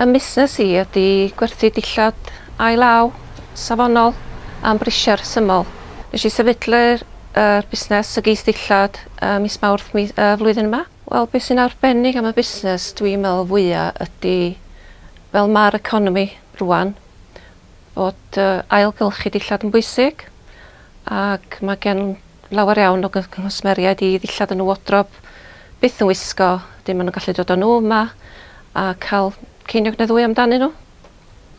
Ym musnes i ydy gwerthu dillad ail-law, safonol, am brisiau rhesymol. Nes i sefydlu'r er busnes y geith dillad ym mis Mawrth mi y flwyddyn yma. Wel be sy'n arbennig am y busnes dwi'n meddwl fwya ydy fel ma'r economi rwan, fod ailgylchu dillad yn bwysig ac mae gen lawer iawn o gwsmeriaid i ddillad yn y wodrob byth yn wisgo, dim maen nhw'n gallu dod â nhw yma a cael ceiniog neu ddwy amdanyn nhw.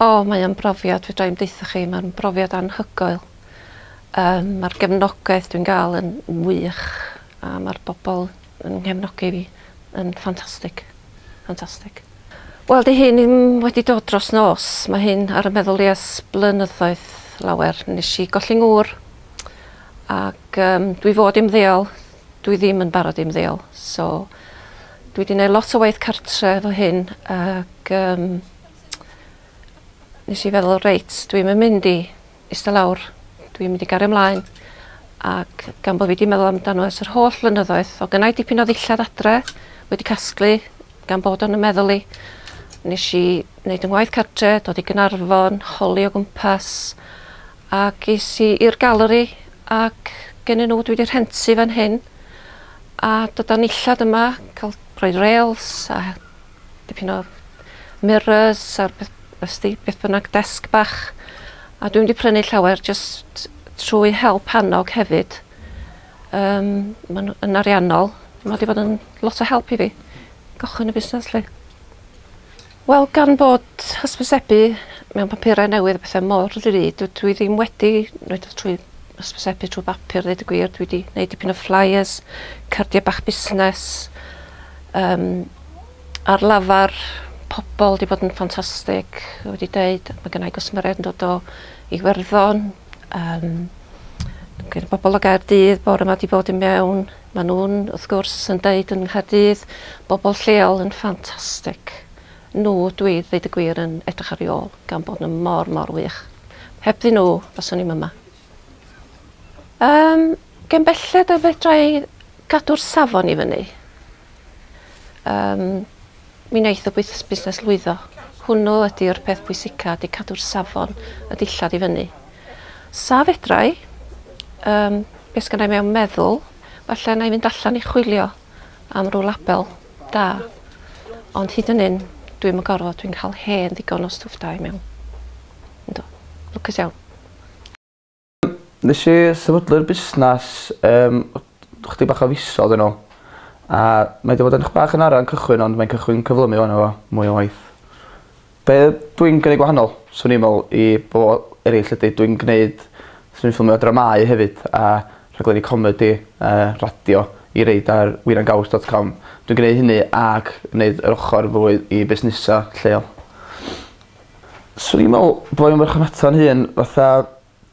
O, mae o'n brofiad, fedra i'm deutha chi, mae'n brofiad anhygoel. Um, mae'r gefnogaeth dwi'n gael yn wych a mae'r bobl Yn nghefnogi fi yn ffantastig. Ffantastig. Wel 'di hyn ddim wedi dod dros nos, mae hyn ar 'y meddwl i ers blynyddoedd lawer. Nesh i golli ngŵr ac yym dwi fod i ymddeol dwi ddim yn barod i ymddeol so dwi 'di neud lot o waith cartre efo hyn ac yym nesh i feddwl reit dwi'm yn mynd i Ista lawr. Dw i'n mynd i gario mlaen ac gan bo' fi 'di meddwl amdano ers yr holl flynyddoedd, o' gynnai dipyn o ddillad adre wedi casglu gan bod o'n 'y meddwl i. Nesh i neud 'yn ngwaith cartre, dod i Gaernarfon, holi o gwmpas ac es i i'r galeri ac gennyn n'w dwi 'di rhentu fan hyn a dydan nillad yma ca'l rhoi rêls a dipyn o mirrors a beth ws't ti, beth bynnag, desg bach. A dwi'm 'di prynu llawer jyst trwy help annog hefyd. Yym ma'n yn ariannol, ma' 'di bod yn lot o help i fi gychwyn y busnes 'lly. Wel gan bod hysbysebu mewn papurau newydd a pethe mor ddrud dw- dwi ddim wedi neud o trwy hysbysebu trwy bapur ddeud y gwir dwi 'di neud dipyn o flyers, cardia bach busnes, yym ar lafar pobol 'di bod yn ffantastig fel wedi deud ma' gynnai gwsmeriaid yn dod o Iwerddon yym gyda bobol o Gaerdydd bore 'ma 'di bod i mewn ma' nw'n wrth gwrs yn deud yng Nghaerdydd bobol lleol yn ffantastig n'w dwi ddeud y gwir yn edrych ar 'u ôl gan bod n'w mor mor wych. Hebddyn n'w faswn i'm yma. Yym, gen belled y fedra i gadw'r safon i fyny. Yym, mi wneith y bwys- busnes lwyddo. Hwnnw ydy'r peth pwysica, ydy cadw'r safon, y dillad i fyny. Sa fedra i, um, beth sgan i mewn meddwl, falle na i fynd allan i chwilio am rhyw label da. Ond hyd yn un, dwi'n yn gorfod, dwi'n cael hen ddigon o stwff da i mewn. Ynddo. Lwcus iawn. Nesh i sefydlu'r busnas yym o- o- chydig bach o fisodd yn ôl a mae 'di bod yn 'chydig bach yn ara yn cychwyn ond mae'n cychwyn cyflymu ŵan efo mwy o waith. Be' dw i'n gneud gwahanol swn i'n me'wl i bobol eryll ydi dw i'n gneud swn i'n ffilmio dramâu hefyd a rhaglenni comedi a radio i reid ar wir am gaws dot com dwi'n gneu' hynny ac neud yr ochor fwy i busnesa' lleol. Swn i'n me'wl bo' e'n farchnata 'yn hun fatha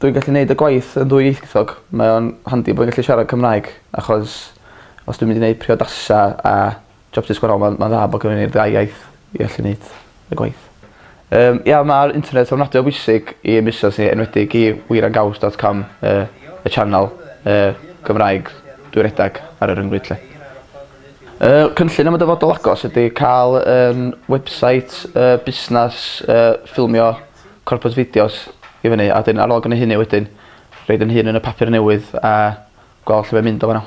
dwy gallu neud y gwaith yn ddwyieithog mae o'n handi bo' gallu siarad Cymraeg achos os dwi'n mynd i neud priodasa a jobsys gwahanol ma'n ma'n dda bo' gennyn ni'r ddau iaith i allu neud y gwaith. Yym ia ma'r internet ofnadwy o bwysig i ein busnas ni enwedig i wir a gaws dot com yy y channel yy Gymraeg dwi redag ar y ryngrwyd 'lly. Yy cynllun am y dyfodol agos ydi ca'l yym website yy busnas yy ffilmio corpus fideos i fyny a 'dyn ar ôl gneud hynny wedyn roid 'yn hun yn y papur newydd a gwel' lle mae'n mynd o fana.